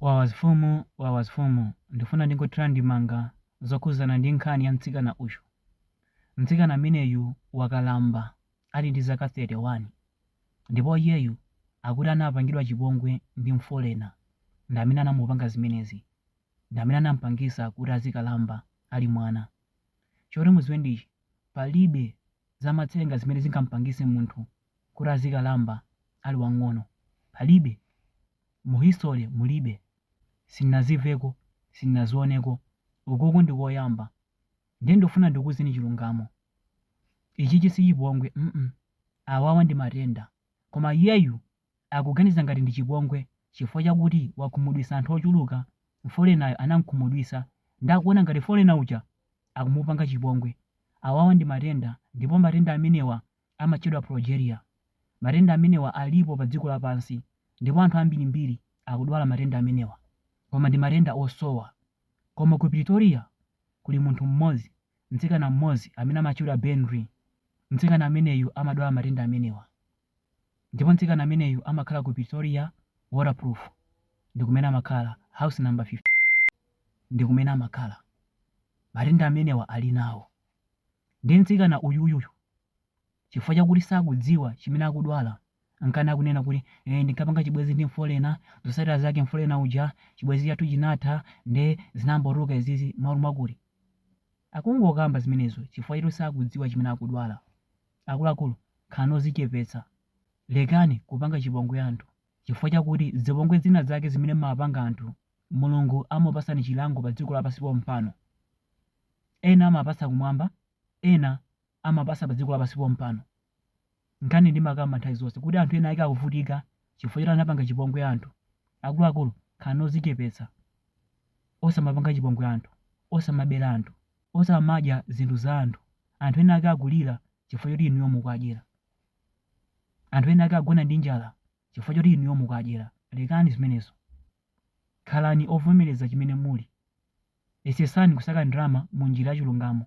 Wawa zfumu wawa zfumu ndifuna ndingothira ndemanga zokhuzana ndi nkhani ya mtsikana uyu mtsikana ameneyu wakalamba ali ndi zaka 31 ndipo iyeyu akuti anapangidwa chipongwe ndi mfolena ndamene anamupanga zimenezi ndamene anampangisa kuti azikalamba ali mwana choti muziwe ndi ichi palibe zamatsenga zimene zingampangise munthu kuti azikalamba ali wang'ono palibe Mu history mulibe. Sinnazimveko, sinnazioneko. Ukuku ndi koyamba. Ndiye ndufuna ndikuuzeni chilungamo? Ichichi si chipongwe mm awawa ndi matenda. Koma iyeyu akuganiza ngati ndi chipongwe chifukwa chakuti wakhumudwisa anthu ochuluka mfolenayo anamkhumudwisa nde akuona ngati mfolena uja akumupanga chipongwe. Awawa ndi matenda ndipo matenda amenewa amatchedwa progeria. Matenda amenewa alipo padziko lapansi ndipo anthu ambirimbiri akudwala matenda amenewa. Koma ndi matenda osowa. Koma ku Pretoria kuli munthu mmodzi, mtsikana mmodzi amene amatchedwa Beandri. Mtsikana ameneyu amadwala matenda amenewa. Ndipo mtsikana ameneyu amakhala ku Pretoria, Waterkloof ndi kumene amakhala, house number 15 ndi kumene amakhala. Matenda amenewa ali nawo. Ndiye mtsikana uyuyuyu chifukwa chakuti sakudziwa chimene akudwala nkhani akunena kuti eh, ndinkapanga chibwenzi ndi mfolena, zotsatira zake mfolena uja chibwenzi chathu chinatha nde zinangotuluka izizi m'malo mwakuti akungokamba zimenezo chifukwa choti sakudziwa chimene akudwala. Akuluakulu, khalani odzichepetsa. Lekani kupanga chipongwe anthu chifukwa chakuti zipongwe zina zake zimene mumawapanga anthu Mulungu amakupatsani chilango padziko lapansi pompano. Ena amapatsa kumwamba, ena amapatsa padziko lapansi pompano. Nkhani ndimakamba nthawi zonse kuti anthu ena ake akuvutika chifukwa choti anapanga chipongwe anthu. Akuluakulu, khalani odzichepetsa. Osamapanga chipongwe anthu, osamabera anthu, osamadya zinthu za anthu. Anthu ena ake akulira chifukwa choti inuyo mukuwadyera. Anthu ena ake akugona ndi njala chifukwa choti inuyo mukuwadyera. Lekani zimenezo. Khalani ovomereza chimene muli. Yesetsani kusaka ndalama mu njira ya chilungamo.